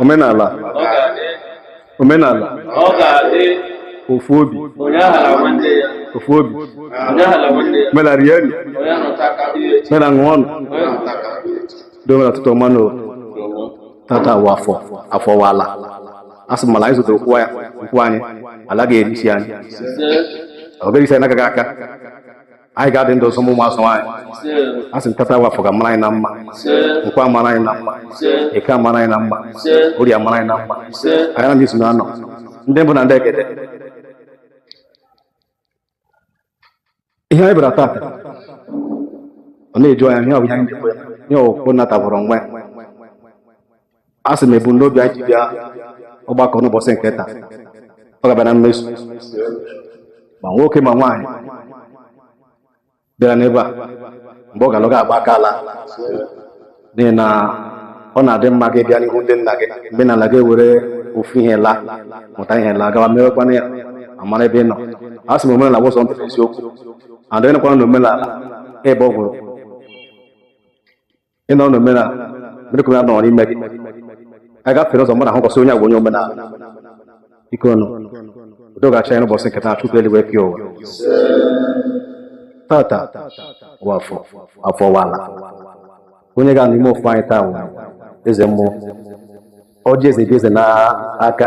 omenala omenala ofu obi ofu obi mela rienụ mela ṅụọnụ dobe na ụtụtụ ọma nụ tata wụ afọ afọ wụ ala a sị m ala anyị zọtara ụkwụ ya ụkwụ anyị ala ga-eri isi anyị ọ bụghị isi anyị agaghị aka anyị ga-adị ndụ ọzọ ụmụ azụ anyị a sị tata wụ afọ ga-amara anyị na mma nkwọ amara anyị na mma eke amara anyị na mma orie amara anyị na mma anyị na izu na anọ ndị mbụ na ndị egede ihe anyị bịara tata ọ na-eju anya ihe ọ bụ ihe anyị na-ekwe ihe ọkwụ nata bụrụ nwa a sị m ebumnobi anyị ji bịa ọgbakọ n'ụbọchị nke taa ọ ga-abịa na mmezu ma nwoke ma nwaanyị bịara n'ebe a mgbe ọ ga-ala ọ ga-agba aka ala n'ihi na ọ na-adị mma gị bịa n'ihu ndị nna gị mgbe ị na-ala gị ewere ofu ihe laa mụta ihe laa gawa mewekwana ya amara ebe ị nọ a sị m omenala wụ sọ ntụrụ isiokwu adịghịkwana na omenala ebe ọ gwụrụ ị nọ n'omenala mere ka omenala nọrọ ime gị a gafere ụzọ mụ na ahụ kwụsị onye agwa onye omenala ike ọnụ udo ga-achị ya n'ụbọchị nke taa chukwu eluigwe pịa ụwa tata wụ afọ afọ wụ ala onye ga-anọ ime ofu anyị taa nwere eze mmụọ ọjị eze dị eze n'aka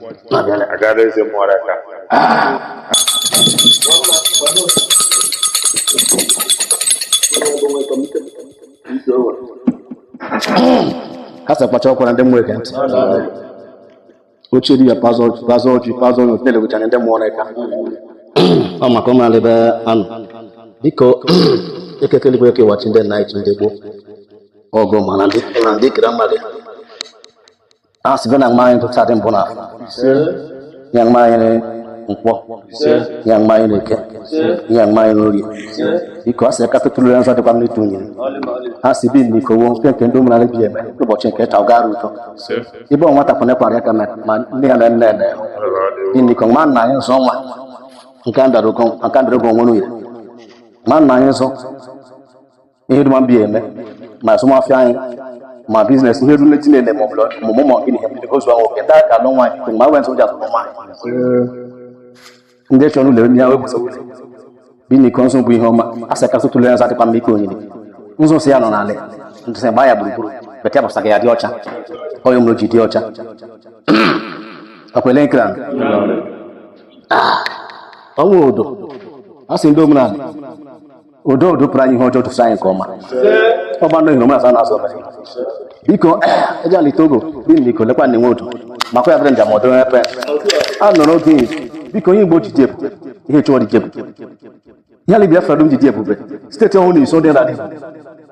agara eze mmụọ aka ha sị kpacha ọkwara ndị mmụọ eke ndị ochie dibịa pazọ pazọ ọjị pazọ ọjị na-elegocha anya ndị mmụọ na eka ọ maka ụmụ ala ebe a nọ biko eke kele igwe kewa chi ndị nna anyị chi ndị gboo ọgụ mana ndị kere mmadụ a sịgo na mmanya ntụcha dị mbụ na afọ ya mmanya na nkwọ ya mmanya na eke ya mmanya na orie biko a sị aka tụtụrụ ya nzọ dịkwa m n'ịtụ nyere a sị bi na iko wo nke nke ndị ụmụnala bi eme ụbọchị nke ta gara ụtọ ibe ọ nwata pụnekwara ya ka mere ma nne ya na nne eme dị na iko ma nna anyị nzọ nwa nke a dara ogo nke a dara ogo onwe n'uye ma nna anyị nzọ ihe dum a bi eme ma azụmafịa anyị ma biznes ihe rule tinye na ma ọmụmụ ma gịnị ihe gozu ahụ oke ndị aka alụ nwaanyị tụrụ ma wentị ụja tụrụ nwaanyị ndị chọrọ ụlọ emi ya wepụta ụlọ biniko nzu bụ ihe ọma a sị kasị tụlere nsa dịkwa mma ike onyinye nzu si ya nọ n'ala ntụsị gbaa ya gburugburu bekee bụsa ka ya dị ọcha onye mụrụ ji dị ọcha akwele nkira ọnwa odo a sị ndị omenala udo udo pụrụ anyị ihe ọjọọ tụsị anyị nke ọma ọ gbanụ ihe omenala na-azụ ọbara biko aja ali togo biniko lekwa na enwe udo makwa ya bịara njem ọdọ epe a nọrọ oge biko onye igbo jide ebube ihe chụọ dị jebube ihe ala biafra dum jide ebube steeti ọhụrụ na iso dị na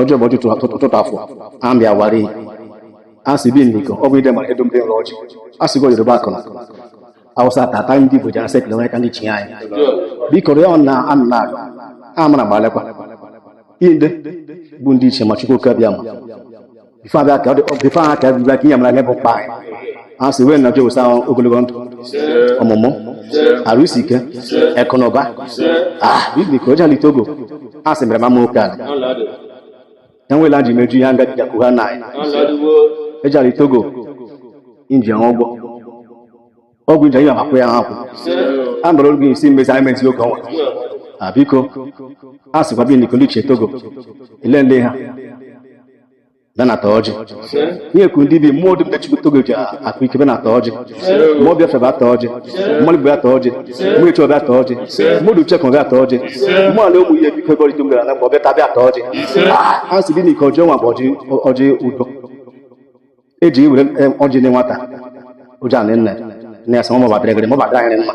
ọjọ bụ ọtụtụ afọ ambi awari a sị biniko ọ bụ ide ma edum dị nrọ ọjị a sị go yoruba akụna awụsa tata ndị igbo jara sekele nwere ka ndị chi anyị biko rịọ na anna amara gbalekwa inde bụ ndị ichie ma chukwu oke abịama ife abịa ka ọ dị ife aha ka bịa ka ihe mara ihe bụ mkpa anyị a sị wee nọjọ wụsa ogologo ndụ ọmụmụ arụ isi ike akụ na ụba ah biko aja ali togo a sị mere mama oke ala enwela ji meju ihe ngaji jakwu ha na anyị aja ali togo inji ụgwọ ụgwọ nje ya akwụ ya akwụ a mara oge isi mmezi anyị mezi oge ọnwa a biko a sịkwa biniko ndị ichie togo ele ndị ha benata ọjị ihe ekwu ndị bi mmụọ dị mgbe chukwu togo ji akụ ike benata ọjị mmụọ biafra bịa ata ọjị mmadụ bụ ata ọjị mmụọ echi ọbịa ata ọjị mmadụ uche kan bịa ata ọjị mmụọ ala ụmụ ihe biko gọrịta mgbe ala mgbe ọbịa tabịa ata ọjị a sị biniko ọjị ọnwa bụ ọjị udo eji iwere ọjị dị nwata ụjọ anị nne nne ya sị mụ mabatara egere mabatara ahịrị mma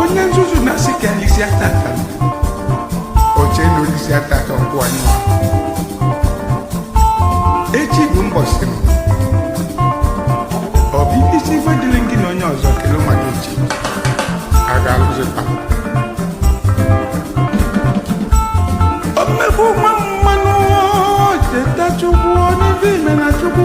onye nzuzu na-asị ka anyị lisia tata o che na o lisia tata ọ gwụ anyị echi bụ mbọsị m ọ bụ ihe isi ife dịrị gị na onye ọzọ kele mmadụ echi a ga-alụzịta omegbu nwa mmadụ cheta chukwu na ife ị me na chukwu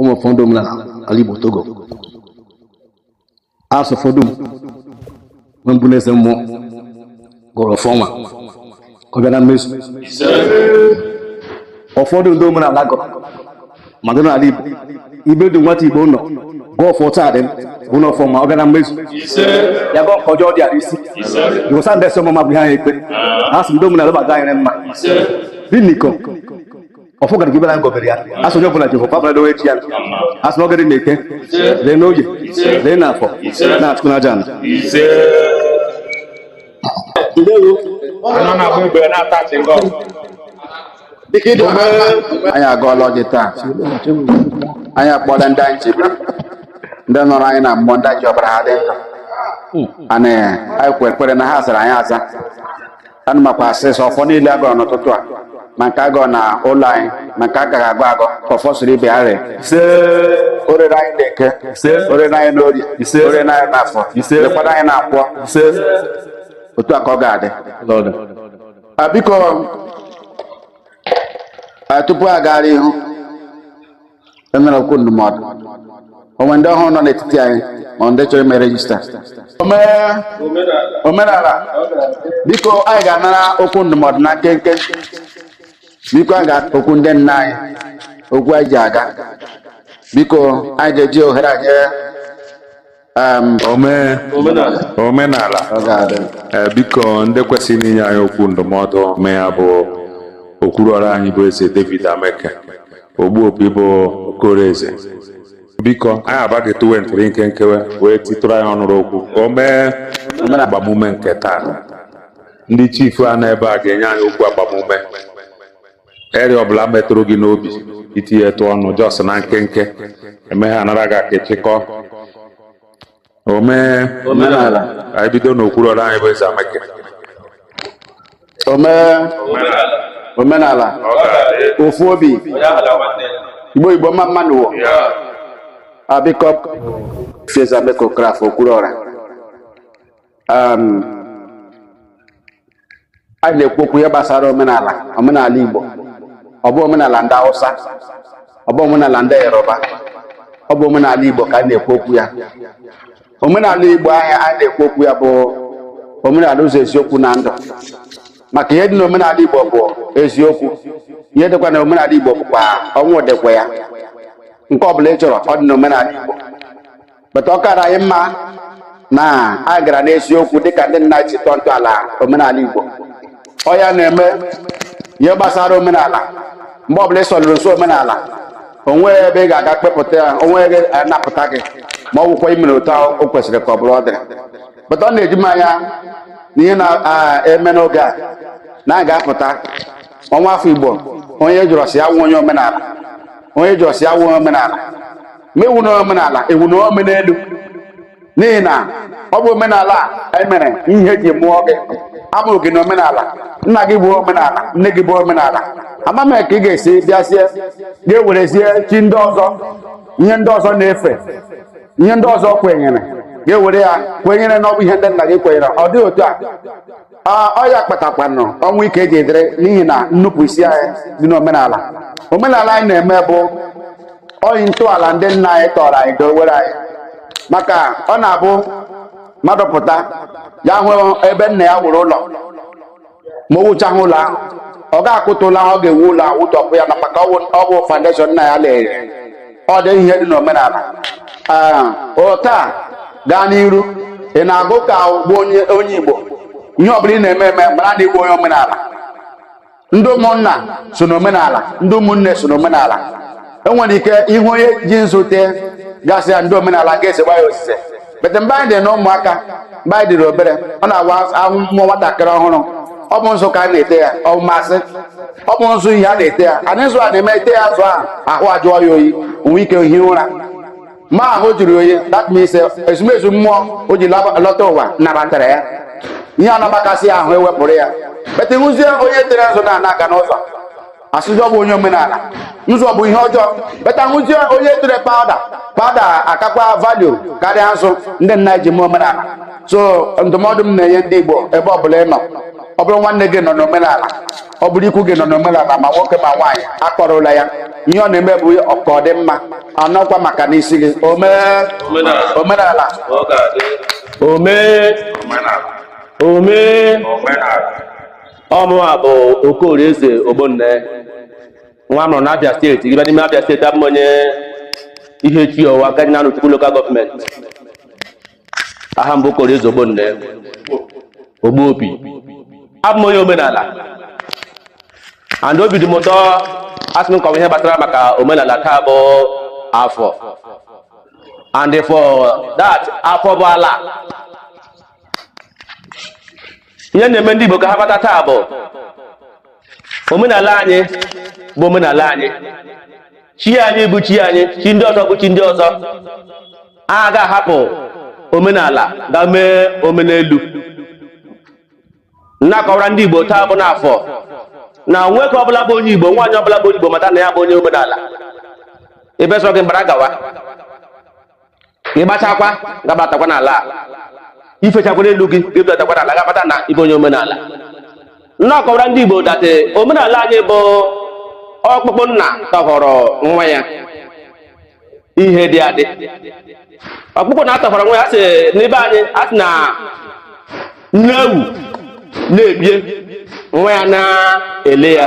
ụmụ ọfọ ndị omenala ala Igbo Togo a sị ọfọ dum na mbụ na eze mmụọ gọrọ ọfọ ma ọ bịa na mmezu ọfọ dum ndị omenala gọrọ maka na ala Igbo ibe dị nwata Igbo nọ gọọ ọfọ taa dị bụ na ọfọ ma ọ bịara mmezu ya gọọ nke ọjọọ dị ala isi jụsa ndị esi ọmụma bụ ihe anyị ekpe a sị ndị omenala gbaga anyị mma dị n'iko ọfọ gara gị bịara ngọbere ya a sị onye ọbụla Jehova abụla dowe echi ya a sị na ọ gara n'eke ree n'oye ree n'afọ na Chukwu na aja ala anyị agọọla ọjị taa anyị akpọọla ndị anyị chebe ndị nọrọ anyị na mmụọ ndị ji ọbara ha dị ndụ ana anyị kwere na ha zara anyị aza anyị makwa sị ọfọ niile a gọrọ n'ụtụtụ a ma nke a gọ na ụlọ anyị ma nke a ga-agọ agọ ka ọfọ siri ibe ya ree ise o reere anyị n'eke ise o reere anyị n'orie ise o reere anyị n'afọ ise rekwara anyị na nkwọ ise otu a ka ọ ga-adị biko tupu a gara ihu a nara okwu ndụmọdụ o nwee ndị ọhụrụ nọ n'etiti anyị ma ndị chọrọ ime register omenala biko anyị ga-anara okwu ndụmọdụ na nkenke biko anyị ga-okwu ndị nna anyị okwu anyị ji aga biko anyị ga-eji ohere anyị omenala eh, biko ndị kwesịrị inye anyị okwu ndụmọdụ ome ya bụ Okwuruọra anyị bụ eze David Ameke Ogbuopi bụ Okoraeze biko anyị abaghị tuwe ntụrụ nkenke wee titụrụ anyị ọnụrụ okwu ka o mee agbamume nke taa ndị chief a nọ ebe a ga-enye anyị okwu agbamume eri ọbụla metụrụ gị n'obi i tinyetụ ọnụ just na nkenke emeghe a nara gị aka chịkọ ome omenala anyị bido n'Okwuruọra anyị bụ eze Ameke ome omenala ofu obi Igbo Igbo mma mma nụ wo biko eze Ameke Okorafọ Okwuruọra um, anyị na-ekwu okwu ihe gbasara omenala omenala Igbo ọ bụ omenala ndị Hausa ọ bụ omenala ndị Yoruba ọ bụ omenala Igbo ka a na-ekwu okwu ya omenala Igbo anyị a na-ekwu okwu ya bụ omenala ụzọ eziokwu na ndụ maka ihe dị na omenala Igbo bụ eziokwu ihe dịkwa na omenala Igbo bụkwa ọnwụ dịkwa ya nke ọ bụla ị chọrọ ọ dị na omenala Igbo but ọ kara anyị mma na a gara n'eziokwu dịka ndị nna ji tọọ ntọala omenala Igbo ọ ya na-eme ihe gbasara omenala mgbe ọbụla ị sọlụrụ nsọ omenala o nwee ebe ị ga-aga kpepụta ya onwe gị anapụta gị ma ọ bụkwa i mere otu ahụ o kwesịrị ka ọ bụrụ ọ dịrị but ọ na-eji m anya na ihe na-eme n'oge a na a ga-apụta nwa afọ Igbo onye jụrụ sị ya wụ onye omenala onye jụrụ sị ya wụ onye omenala ma ị wụ na omenala ị wụ na omenelu n'ihi na ọ bụ omenala e mere ihe e ji mụọ gị a mụrụ gị na omenala nna gị bụ omenala nne gị bụ omenala ama m ka ị ga-esi bịazie ga-ewerezie chi ndị ọzọ ihe ndị ọzọ na-efe ihe ndị ọzọ kwenyere ga-ewere ya kwenyere na ọ bụ ihe ndị nna gị kwenyere ọ dị otu a ọ ya kpatakwanụ ọnwụ ike ji adịrị n'ihi na nnupụ isi anyị dị n'omenala omenala anyị na-eme bụ oyi ntọala ndị nna anyị tọrọ anyị dowere anyị maka ọ na-abụ mmadụ pụta ya hụ ebe nna ya wuru ụlọ ma o wuchaghị ụlọ ahụ ọ ga-akụtu ụlọ ahụ ọ ga-ewu ụlọ ahụ wutopu ya na maka ọ bụ foundation nna ya layiri ọ dị ihe dị n'omenala taa gaa n'iru ị na-agụ ka ị bụ onye Igbo ihe ọbụla ị na-eme eme mara na ị bụ onye omenala ndị ụmụnna so n'omenala ndị ụmụnne so n'omenala e nwere ike ịhụ onye ji nzu tee ga-asị ya ndị omenala ga-ezekwa ya ozize but mgbe anyị dị na ụmụaka mgbe anyị dịrị obere ọ na-awụ a mụọ nwatakịrị ọhụrụ ọ bụ nzu ka a na-ete ya ọ bụ masị ọ bụ nzu ihe a na-ete ya anị nzu a na-eme e tee ya nzu ahụ ahụ ajụọ ya oyi o nwee ike ihi ụra ma ahụ jụrụ oyi that means eh, ezumezu mmụọ o ji laba- lọta ụwa nabatara ya ihe a na-agbakasị ya ahụ e wepụrụ ya but hụzie onye tere nzu na na-aga n'ụzọ a sị ọ bụ onye omenala nzu bụ ihe ọjọọ but a hụzie onye tere powder powder akakwa value karịa nzu ndị nna ji mee omenala so ndụmọdụ m na-enye ndị igbo ebe ọbụla ị nọ ọ bụrụ nwanne gị nọ n'omenala ọ bụrụ ikwu gị nọ n'omenala ma nwoke ma nwaanyị akọrọla ya ihe ọ na-eme bụ ka ọ dị mma anọkwa maka n'isi gị o mee omenala o mee omenala ọ mụwa bụ okorie eze ogbonne nwa a mụrụ na abịa steeti ị baa n'ime abịa steeti abụ m onye Ihechiọwa dị na Arọchukwu lokal gọọmenti aha m bụ okorie eze ogbonne ogbu obi abụ m onye omenala and obi dị m ụtọ a sị m kọwaa ihe gbasara maka omenala taa bụ afọ and for that afọ bụ ala ihe m na-eme ndị Igbo ka ha mata taa bụ omenala anyị bụ omenala anyị chi anyị bụ chi anyị chi ndị ọzọ bụ chi ndị ọzọ a ga-ahapụ omenala ga mee omenelu m na-akọwara ndị Igbo taa bụ n'afọ na nwoke ọbụla bụ onye Igbo nwaanyị ọbụla bụ onye Igbo mata na ya bụ onye omenala ebe sọ gị gbara gawa ka ị gbachakwa gabatakwa n'ala i fechakwa n'elu gị ga-ebudatakwa n'ala gabata na ị bụ onye omenala na-akọwara ndị Igbo that omenala anyị bụ ọkpụkpụ nna tọhọrọ nwa ya ihe dị adị ọkpụkpụ nna tọhọrọ nwa ya ndị be anyị a sị na nne ewu na-ebie nwa ya na-ele ya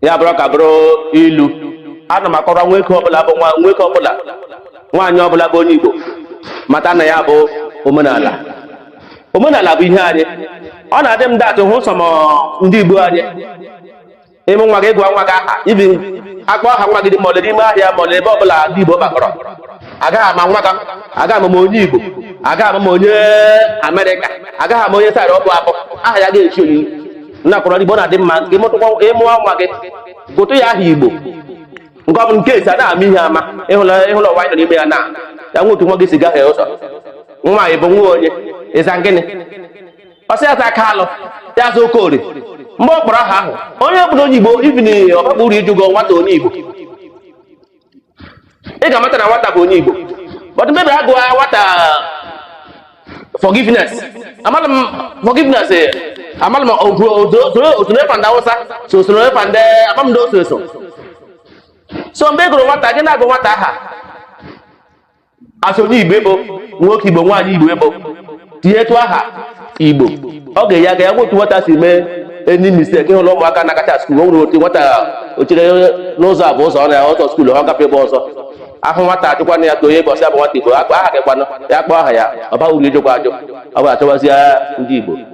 ya bụrụ ụka bụrụ ilu ana m akọrọ nwoke ọbụla bụ nwoke ọbụla nwaanyị ọbụla bụ onye igbo mata na ya bụ omenala omenala bụ ihe anyị ọ na-adị m that ị hụ some ndị igbo anyị ị mụọ nwa gị gụọ nwa gị aha even akpọ aha nwa gị mall n'ime ahịa mall ebe ọbụla ndị igbo gbakọrọ agaghị ama nwa gị agaghị ama ma onye igbo agaghị ama ma onye amerịka agaghị ama onye side ọ bụ abụ aha ya ga-echi oyiyi na-akọrọ igbo na-adị mma ka ịmụtụkwa ị mụọ nwa gị gụtụ ya aha igbo nke ọ bụ nke esi a na-ama ihe ama ị hụla ị hụla ụwa anyị nọ n'ime ya na ya nwe otu nwa gị si gahie ụzọ nwa bụ nwa onye ị za gịnị ọ sị ya za Kalu ya za Okorie mgbe ọ kpọrọ aha ahụ onye bụ onye igbo even ọ bakwa uru ịjụgo nwata onye igbo ị ga-amata na nwata bụ onye Igbo but maybe a gụọ nwata forgiveness amala m forgiveness eh, amala m o so na efa ndị Awụsa so o so na efa ndị amam ndị o so eso so mgbe ị gụrụ nwata gị na-agụ nwata aha as onye igbo ị bụ nwoke igbo nwaanyị igbo ị bụ tinyetụ aha igbo ọ ga-enye aka ya nwe otu nwata si mee any mistake ị hụla ụmụaka na-agacha skuul o nwere otu nwata ochere n'ụzọ abụ ụzọ ọ na ụzọ skuul ọ gafe ebe ọzọ ahụ nwata ajụkwana ya ka onye bọsị abụ nwata igbo akpọ aha gị kwanụ ya kpọọ aha ya ọ baghị uru ịjụkwa ajụ ọ bụ achọwazi ndị igbo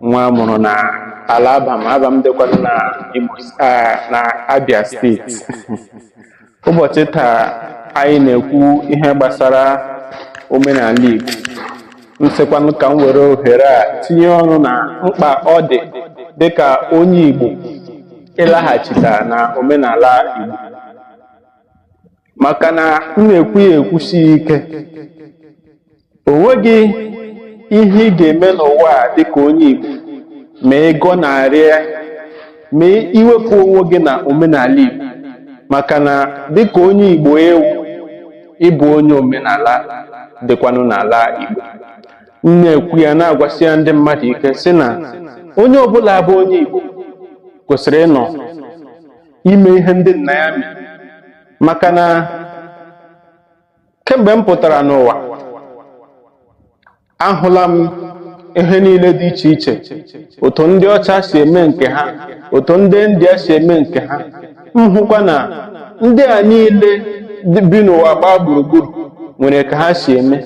nwa a mụrụ na ala Abam Abam dịkwanụ na Imo ah, na Abia steeti ụbọchị taa anyị na-ekwu ihe gbasara omenala Igbo m sịkwanụ ka m were ohere a tinye ọnụ na mkpa ọ dị dịka onye Igbo ịlaghachita na omenala Igbo maka na m na-ekwu ya ekwusi ike o nweghị ihe ị ga-eme n'ụwa a dịka onye Igbo ma ị gọnarịa ma i wepụ onwe gị na omenala Igbo maka na dịka onye Igbo ị wụ ị bụ onye omenala dịkwanụ n'ala Igbo m na-ekwu ya na-agwasi ya ndị mmadụ ike sị na onye ọbụla bụ onye Igbo kwesịrị ịnọ ime ihe ndị nna ya mere maka na kemgbe m pụtara n'ụwa ahụla m ihe niile dị iche iche otu ndị ọcha si eme nke ha otu ndị India si eme nke ha m hụkwa na ndị a niile bi n'ụwa gbaa gburugburu nwere ka ha si eme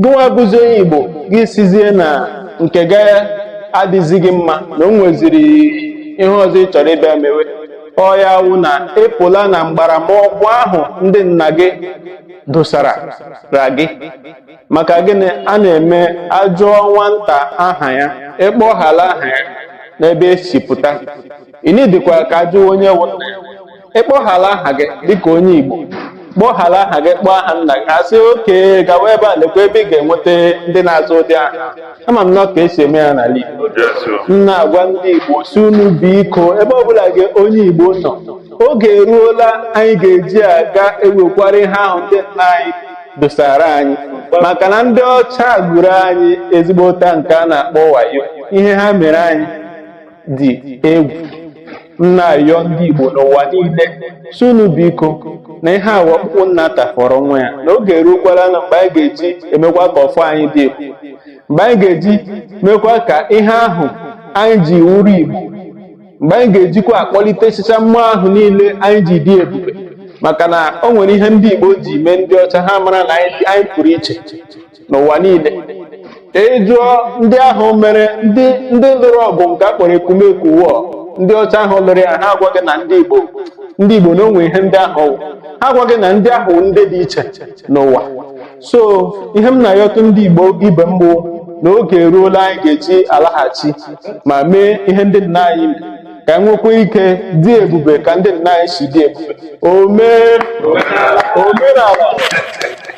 gịnwa bụzi onye Igbo gị sizie na nke gị adịzighị mma na o nweziri ihe ọzọ ị chọrọ ịbịa mewe ọ ya wụ na ị pụọla na mgbaramọgwụ ahụ ndị nna gị dosara ra gị maka gịnị a na-eme a jụọ nwata aha ya ị kpọghala aha ya n'ebe e si pụta ị nidikwa ka a jụwa onye wụ nna ya ị kpọghala aha gị dịka onye Igbo kpọghala aha gị kpọọ aha nna gị a sị okay gawa ebe a lekwa ebe ị ga-enweta ndị na-aza ụdị aha ama m na ọ ka e si eme ya n'ala Igbo m na-agwa ndị Igbo sị unu biko ebe ọbụla gị onye Igbo nọ oge eruola anyị ga-eji aga ewekwara ihe ahụ ndị nna anyị dosara anyị maka na ndị ọcha gwuru anyị ezigbo ụta nke a na-akpọ wayo ihe ha mere anyị dị egwu m na-ayọ ndị Igbo n'ụwa niile sị unu biko na ihe a wụ ọkpụkpụ nna tafọrọ nwa ya na oge eruokwala na mgbe anyị ga-eji emekwa ka ọfọ anyị dị egwu mgbe anyị ga-eji mekwa ka ihe ahụ anyị ji wụrụ Igbo mgbe anyị ga-ejikwa akpọlitechicha mmụọ ahụ niile anyị ji dị ebube maka na o nwere ihe ndị Igbo ji mee ndị ọcha ha mara na anyị pụrụ iche n'ụwa niile ị jụọ ndị ahụ mere ndị ndị lụrụ ọgụ nke a kpọrọ Ekumeku war ndị ọcha ahụ lụrụ ya ha agwa gị na ndị Igbo ndị Igbo na o nwe ihe ndị ahụ wụ. ha agwa gị na ndị ahụ wụ ndị dị iche n'ụwa so ihe m na-ayọtụ ndị Igbo ibe m bụ na oge eruola anyị ga-eji alaghachi ma mee ihe ndị nna anyị mere ka anyị nwekwa ike dị ebube ka ndị nna anyị si dị ebube omee omenala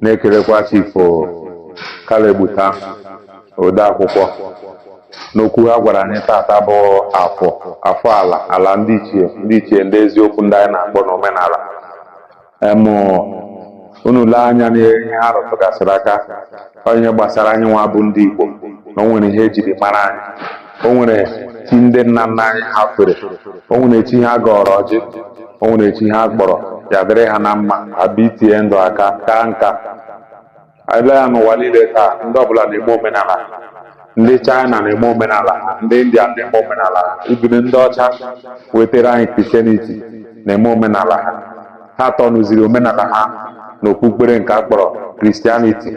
na-ekelekwa Chief Caleb Uta odeakwụkwọ n'okwu ha gwara anyị taata bụ afọ afọ ala ala ndị ichie ndị ichie ndị eziokwu ndị anyị na-akpọ n'omenala em unu lee anya n'ihe ha rụtụgasịrị aka ọ ihe gbasara anyị nwa bụ ndị Igbo na o nwere ihe e jiri mara anyị o nwere chi ndị nna nna anyị ha fere o nwere chi ha gọrọ ọjị o nwere chi ha kpọrọ ya dịrị ha na mma ha bite ndụ aka kaa nka ị lee anya n'ụwa niile taa ndị ọbụla na-eme omenala ha. ndị China na-eme omenala ha, ndị India na-eme omenala ha even ndị ọcha wetara anyị Christianity na-eme omenala ha ha tọnụziri omenala ha n'okpukpere nke a kpọrọ Christianity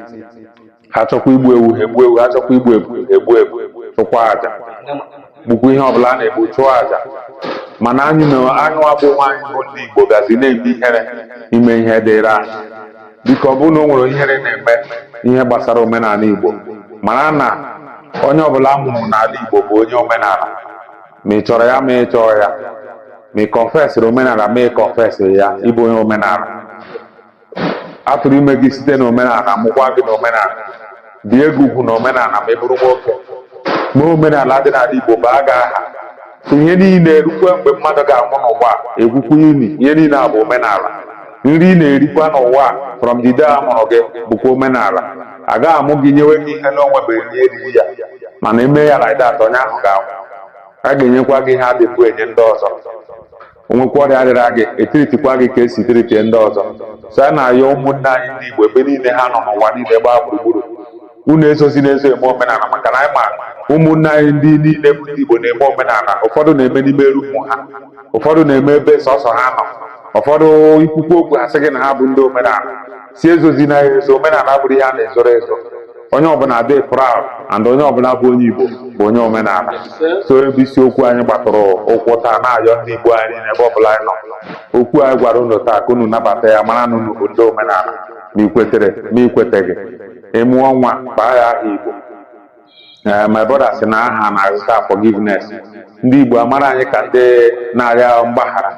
ha chọkwa igbu ewu ha egbu ewu ha chọkwa igbu ebu ha egbu ebu chụkwa aja gbukwa ihe ọbụla a na-egbu chụọ aja mana anyị nwa bụkwa anyị bụ ndị Igbo bịazi na-eme ihere ime ihe dịrị anyị biko ọ bụrụ na o nwere ihere na-eme ihe gbasara omenala Igbo mara na onye ọbụla a mụrụ n'ala Igbo bụ onye omenala ma ị chọrọ ya ma ị chọọ ya ma ị kọnfesịrị omenala ma ị kọnfesịghị ya ị bụ onye omenala a tụrụ ime gị site na omenala mụkwa gị na omenala bie gị ugwu na omenala ma ị bụrụ nwoke mee omenala dị n'ala Igbo baa gị aha ihe niile erukwe mgbe mmadụ ga-anwụ n'ụwa egwukwu ini ihe niile a bụ omenala nri ị na-erikwa n'ụwa from the day a mụrụ gị bụkwa omenala a gaghị amụ gị nyewe gị ihe na-enwebeghị onye riri ya mana e mee ya like that onye ahụ ga-anwụ a ga-enyekwa gị ihe a dịbu enye ndị ọzọ o nwekwa ọrịa rịara gị e treatikwa gị ka e si treat ndị ọzọ so a na-ayọ ụmụnne anyị ndị Igbo ebe niile ha nọ n'ụwa niile gbaa gburugburu unu ezozina ezo eme omenala maka na anyị ma ụmụnne anyị ndị niile bụ ndị Igbo na-eme omenala ụfọdụ na-eme n'ime room ha ụfọdụ na-eme ebe sọsọ ha nọ ụfọdụ i kwukwu okwu a sị gị na ha bụ ndị omenala sị ezozina ezo omenala abụrọ ihe a na-ezoro ezo onye ọbụla dị proud and onye ọbụla bụ onye igbo bụ onye omenala so ebe isiokwu anyị gbadoro ụkwụ taa na-ayọ ndị igbo anyị n'ebe ọbụla anyị nọ okwu anyị gwara unu taa ka unu nabata ya mara na unu bụ ndị omenala ma i kwetere ma i kweteghị ị mụọ nwa baa ya aha igbo ee my brother sị na ha na-aza forgiveness ndị igbo a mara anyị ka ndị na-arịọ mgbaghara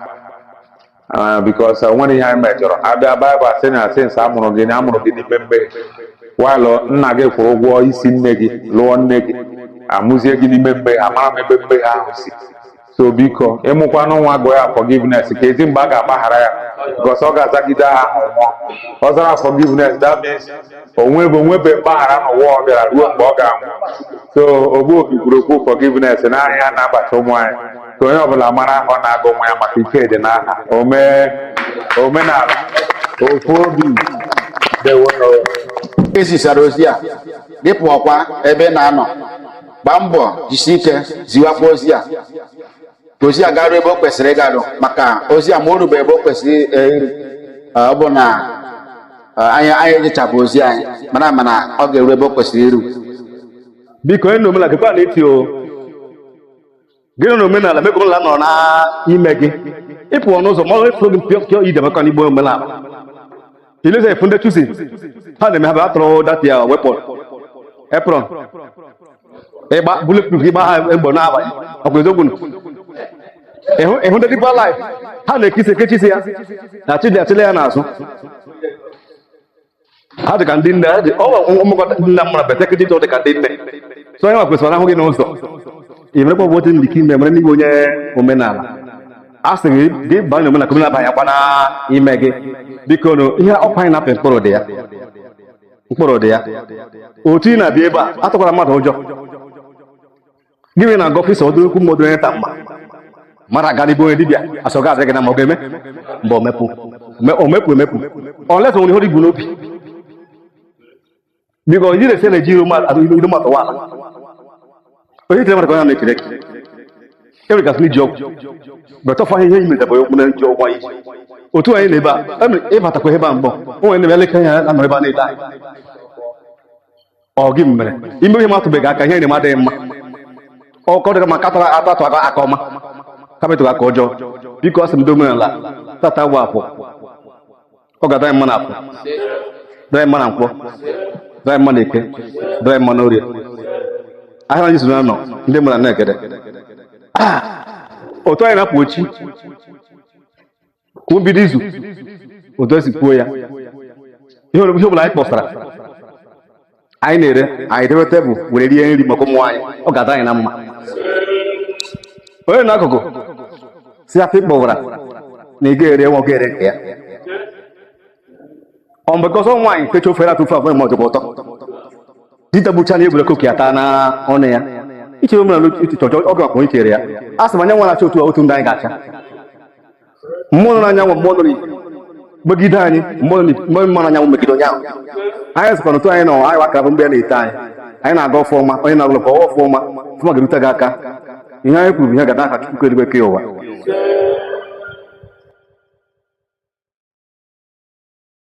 Ah, because o nwere ihe anyị mejọrọ a bịa Baịbụl a sị na since a mụrụ gị na a mụrụ gị n'ime mmehie while nna gị kwụrụ ụgwọ isi nne gị lụọ nne gị a mụzie gị n'ime mmehie amarọ m ebe mmehie ahụ si so biko ị mụkwanụ nwa gụọ ya forgiveness kezi mgbe a ga-agbaghara ya because ọ ga-azagide aha ahụ nwụọ ọ zara forgiveness that means o nwebe o nwebe mgbaghara n'ụwa ọ bịara ruo mgbe ọ ga-anwụ so Ogbuobi kwuru okwu forgiveness na aha a na-abacha ụmụ anyị ka onye ọbụla mara aha ọ na-agụ nwa ya maka ike dị n'aha omenala ofu obi ezisara ozi a gị pụọkwa ebe ị na-anọ gbaa mbọ jisi ike ziwakwa ozi a ka ozi a garuo ebe o kwesịrị ịgaru maka ozi a ma o rube ebe o kwesịrị iru ọ bụ na anyị ejechabu ozi anyị mana mana ọ ga-eru ebe o kwesịrị iru biko onye omenala gekwa ntị o gị nọ na omenala mekwa omenala nọ n'ime gị ị pụọ n'ụzọ ma a fụ gị mpịọ mpịọ ije maka na ị bụ omenala ilezi efu ndị chusi ha na-eme ha bụ atụrụ dati ya wepụ apron ịgba bulletproof ịgba ha egbo n'abalị ọkwa eziokwu nụ ị hụ ndị dịkwa life ha na-ekisi ekechisi ya na chidi achịla ya n'azụ ha dị ka ndị nne ha dị ọ bụ mmekọta nna mmadụ betek dị dị ka ndị nne so onye nwa kwesịrị a hụ gị n'ụzọ ị merekwa bụ otu ndị ka ime mara na ị bụ onye omenala a sị gị gị banye na omenala ka omenala banyekwa n'ime gị biko nụ ihe ọkwa anyị na-apị mkpụrụ dị ya mkpụrụ dị ya otu ị na-abịa ebe a atụkwara mmadụ ụjọ gịnị na agọfisa ọdụ okwu mmadụ onye ta mma mara aga na be onye dibịa asọ ga adịghị na ma ọ ga-eme mgbe omepụ omepụ emepụ Olisa nwere ihe i bu n'obi biko onye na-ese na-eji iru mmadụ wala onye itere mmadụ ka onye na-ekele gị enwere gasị n'iji ọgwụ betọfa ihe yi metabara okwu na nji ọgwụ anyị otu anyị na ebe a ị batakwa ebe a mgbọ o nwere na-eme elekere ya anọ ebe a na-ele anyị ọ gị mere ime ihe metụbeghị aka ihe na adịghị mma ọkọ dịka ma katara atọ atụ aka aka ọma kapịtụrụ aka ọjọọ biko asị m ndị omenala tata bụ afọ ọ ga-adịrị anyị mma na afọ dịrị anyị mma na nkwọ dịrị anyị mma na eke dịrị anyị mma na orie ahịa anyị zuru anọ ndị mmadụ na-egede ah! otu anyị na-apụ echi bụ mbido izu otu esi kwuo ya ihe ọ bụla anyị kpọsara anyị na-ere anyị debe tebụl were rie nri maka ụmụ anyị ọ ga-adị anyị na mma onye n'akụkụ sị afịa ị kpọwara na ị ga-ere nwa ga-ere nke ya ọmbekọsọ nwaanyị techa ofe atụfe abụọ ma ọ tọkwa ụtọ dita bụcha na egwere koki ata na ọnụ ya ichere omenala otu chọchọ ọgụ akpọ ichere ya a sị m anyanwụ na-acha otu otu ndụ anyị ga-acha mmụọ nọ n'anyanwụ mmụọ nọ n'ikuku megide anyị mmụọ nọ n'ikuku mmụọ nọ n'anyanwụ megide onye ahụ anyị sịkwa n'otu anyị nọ anyị wakara bụ mgbe ya na-ete anyị anyị na-aga ọfụma onye na-agụlọ ka ọwa ọfụma ọfụma ga-erute gị aka ihe anyị kwuru bụ ihe ga-adị n'aha Chukwu kelụ igwe ke ụwa